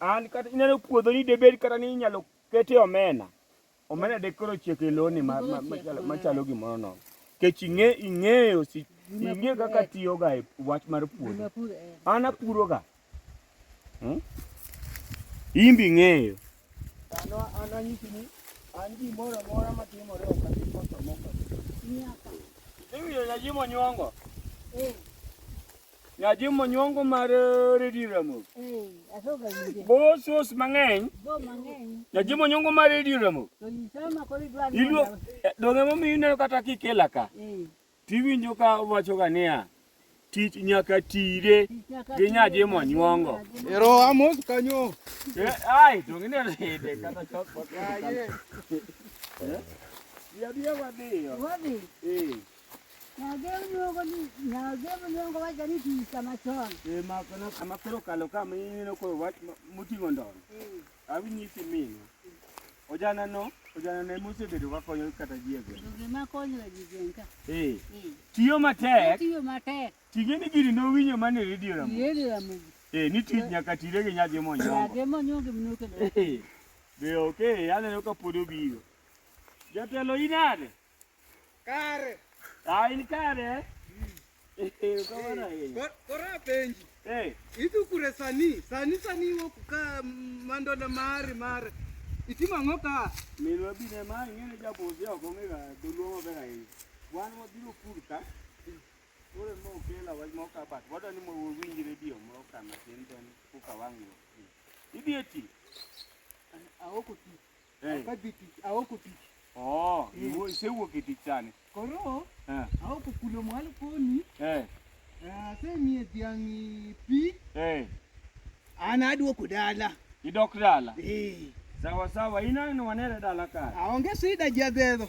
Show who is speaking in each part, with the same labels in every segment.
Speaker 1: An kata ineno puodho ni debed kata ni inyalo kete omena. Omena de koro chiek e loni ma- ma- machalo- machalo gimoro no. Kech ing'e ing'eyo si ing'e kaka tiyoga e wach mar puodho. Nimepura eh. An apuroga. Hmm? In be ing'eyo. An an anyisi ni an gimoro amora matimore ok abi koso moko. Nyaka. Ing'iyo nyajimo nyongo. Eh, Nyathi monyuongo mar eh, Redi Ramo. Eh, asoga winje. Bo sos mang'eny. Bo mang'eny. Nyathi monyuongo mar Redi Ramo. To isama koro idwa ni. Iluo eh, donge momi ineno kata kikela ka. Eh. Tiwinjo ka wacho ga niya. Tich nyaka tire gi nyathi monyuongo. Ero amos
Speaker 2: kanyo. Eh, ai
Speaker 1: donge ne rede kata chok. Ai. Ya dia wadhi. Wadhi. Eh.
Speaker 3: Amakelo
Speaker 1: kalo ka mineno koro wach moting'o ndono. Awinyisi mino. Ojana no, ojana ne mosebedo ka konyo kata ji e gweng'. Gima konyo e ji
Speaker 3: gweng' ka. Eh. Tiyo
Speaker 1: matek. Tiyo matek. Tinge ni
Speaker 3: giri nowinyo
Speaker 1: mane redio ramo. Redio ramo. Eh,
Speaker 3: ni tich nyaka
Speaker 1: tire gi nyadhi monyongo. Nyadhi monyongo mnoke.
Speaker 3: Eh. Be
Speaker 1: okay, aneno ka pod obiro. Jatelo inade? Kare.
Speaker 2: Ah, in
Speaker 1: kare. Eh, ukamana yeye.
Speaker 2: Kora penji. Eh. Itu kure sani, sani sani wo kuka mando na mari mari. Iti mango ka. Milo bine ma
Speaker 1: ngene ja bozi ya konge ga dulu mo bera yi. Wan mo dilo kurka. Ore mo kela wa mo ka bat. Wada ni mo wo winji radio mo ka na tenten kuka wangu. Idieti.
Speaker 2: Aoko ti. Eh. Akabi tich, aoko tich. Oh, Eh. iwo-
Speaker 1: isewuok e tich sani. Koro Eh,
Speaker 2: aoko kulo mwalo koni. eh, Eh, Asemiye dhiang' pi. eh. An aduoko dala. Idok dala.
Speaker 1: Eh. Sawa sawa, inang'no wanere dala kare. Aonge sida
Speaker 2: jadhedho.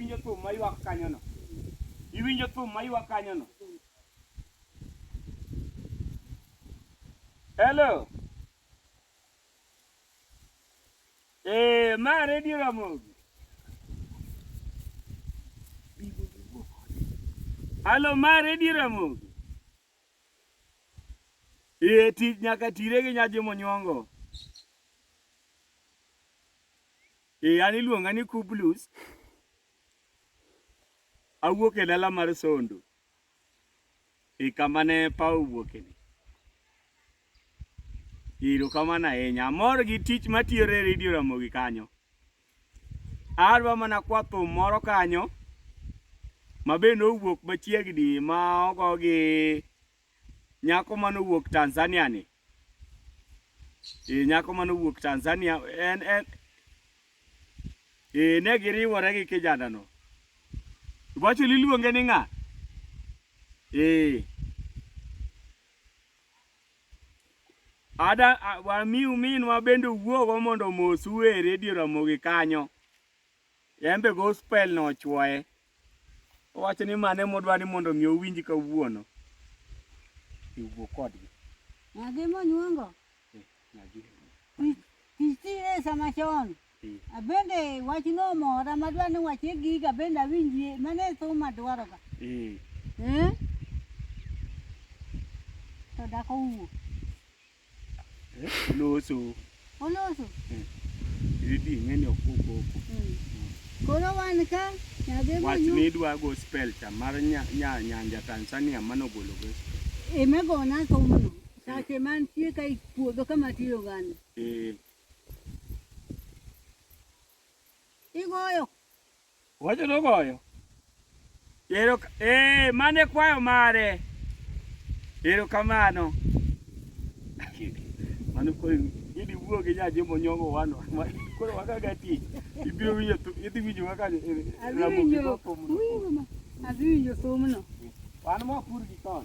Speaker 1: Iwinjo thum mayuak kanyono? Iwinjo thum mayuak kanyono? Hello. Eh, ma redio Ramogi. Hello, ma redio Ramogi. Iye ti nyaka tire gi nyaji monyuongo. Iye an iluonga ni Kublus. Awuok e dala mar Sondo. E kama ne paw wuoke ni. Iro kamana ahinya. Amor gi tich matiyore e Radio Ramogi kanyo. Adwa mana kwa thum moro kanyo ma be nowuok machiegni ma ogo gi nyako ma nowuok Tanzania ni. E, nyako ma nowuok Tanzania en en e, ne giriwore gi kijanano. Iwacho ni iluonge ni ng'a? E. Ada wamiu minwa bende owuogo mondo mosu e redio Ramogi kanyo. En be gospel no ochwoye. Owacho ni mane modwa ni mondo mi owinj kawuono. Iwuo kodgi. Ng'agi
Speaker 3: monyuongo? Eh, ng'agi. Ichire sama chon. Abende wach no mora madwa ni wache giga bende awinjie mane thuma dwaro ga. Eh. Eh? To dako wuo. Eh,
Speaker 1: loso. Oloso. Eh. Idi ng'eni ok koko. Hmm.
Speaker 3: Koro wan ka nyadhi mo. Wach ni dwa go
Speaker 1: spell cha mar nya nya nyanja Tanzania mano golo go. Emegona thumno.
Speaker 3: Sache mantie ka ipuodho kama tiyo gani. Eh. Igoyo. Wacho
Speaker 1: no goyo. Ero eh mane kwayo mare. Ero kamano. Mano kwayo idi wuo gi jaje mo nyongo wano. Koro waka gati. Ibiro winyo tu idi winyo waka e, e, ramo gi popo. Azwi
Speaker 3: winyo somo no. Wan mo pur
Speaker 1: gi ton.